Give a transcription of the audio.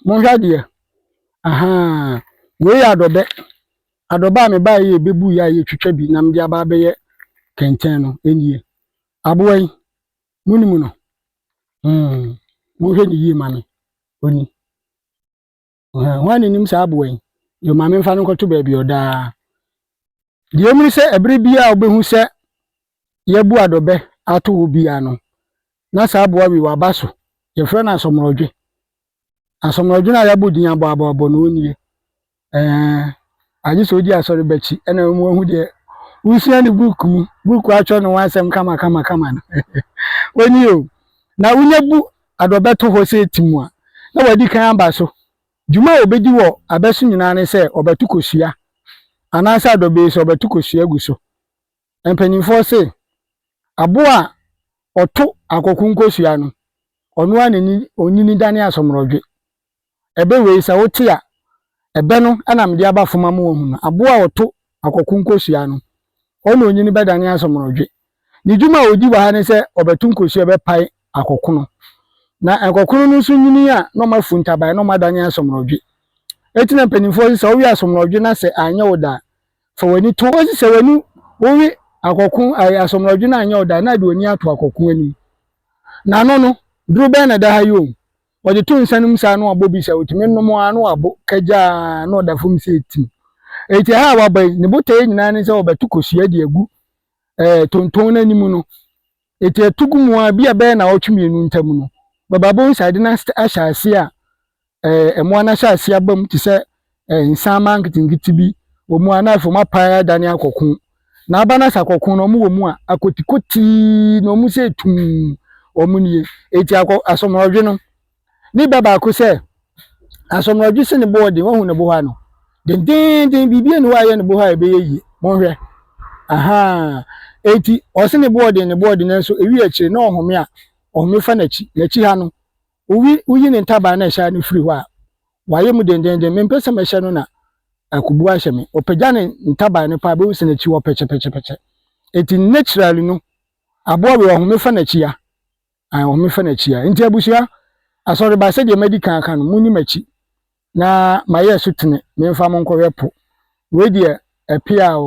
Monhwɛ adeɛ. Ahaa. Wei yɛ adɔbɛ. Adɔbɛ a mebaeɛ yɛ bɛbu yɛ a yɛtwitwa bi na mede aba abɛyɛ kɛntɛn no nie. Aboa yi, monim no? Hmm. Monhwɛ ne yie ma me. Oni. Ahaa. Hwan na nim saa aboa yi? Yo, ma memfa no nkɔto baabi ɔdaa. Deɛ ɛmu ne sɛ ɛberɛ biara a wobɛhu sɛ yɛbu adɔbɛ ato hɔ biara no, na saa aboa wei waba so. Yɛfrɛ no asɔmorɔdwe. Asɔmorɔdwe no a yɛabɔ din abɔ abɔ abɔ no, ɔnie. Ɛɛ, agye sɛ ɔdi asɔre ba akyi ɛna wɔn ahu deɛ wosua ne book mu. Book atwerɛ ne ho asɛm kama kama kama no. Ɔnie o. Na wonya bu adɔbɛ to hɔ sɛ tim a, na wadi kan aba so. Dwuma a ɔbɛdi wɔ abɛ so nyinaa ne sɛ ɔbɛto kosua anaasɛ adɔbɛ yi so ɔbɛto kosua agu so. Mpanimfoɔ se, aboa a ɔto akoko nkosua no, ɔno ara na onyini dane asomrɔdwe. Ɛbɛ wei, sɛ wote a, ɛbɛ no na mede aba fam ama woahu no. Aboa a ɔto akoko nkosua no, ɔno na onyini bɛdane asomrɔdwe. Ne dwuma a ɔdi wɔ ha ne sɛ ɔbɛto nkosua, ɔbɛpae akoko no. Na nkoko no nso nyini a, na ɔmafu ntaban, na ɔmadane asomrɔdwe. Enti na mpanimfoɔ se, sɛ wowe asomrɔdwe na sɛ anyɛ wo da a, Fa w'ani to hɔ si sɛ w'ani wowe akɔko ayɛ asomrɔdwe no anyɛ wo da na de w'ani ato akɔko anim. N'ano no, duru bɛn na ɛda ha yi o? Ɔde to nsa no mu saa na wabɔ bi sɛ otumi nom ara na wabo kagyaa na ɔda fam sɛ etim. Enti ɛha a waba yi, ne botaeɛ nyinaa ne sɛ ɔbɛto kosua de agu eh, tonton no anim no. Enti ɛto gu mu a, bi a bɛyɛ na ɔtwe mmienu ntam no, bɛba bohu sɛ ade no ahyɛ ase a ɛɛ, mmoa no ahyɛase aba mu te sɛ ɛɛ, nsanma nketenkete bi wɔ mu a na afei wɔapae adane akɔko. Na aba no asɛ akɔko no, wɔwɔ mu a, akotikotii na wɔn sɛ tum wɔn nie. Eti akɔ asɔmorɔdwe no, ne ba baako sɛ asɔmorɔdwe se ne bo ɔden, wahu ne bo hɔ ano. Dendeenden biribi ani hɔ a ɛyɛ ne bo hɔ a ɛbɛyɛ yie. Monhwɛ. Ahaa. Eti ɔse ne bo ɔden, ne bo ɔden nanso ewi akyire na ɔhome a, ɔhome fa n'akyi. N'akyi ha no, Owi woyi ne ntaban na ɛhyɛ no firi hɔ a, wayɛ mu dendeenden. Mempɛ sɛ mɛhyɛ no na akobu ahyɛ me. Ɔpagya ne ntaban no paa bɛhu sɛ n'akyi hɔ pɛkyɛpɛkyɛpɛkyɛ. Enti naturally no, aboa wei ɔhome fa n'akyi a, ah, ɔhome fa n'akyi a. Enti abusua, asɔreba sɛdeɛ madi kan aka no, monni m'akyi na mayɛ so tene, memfa mo nkɔhwɛ po. Wei deɛ ɛpea o.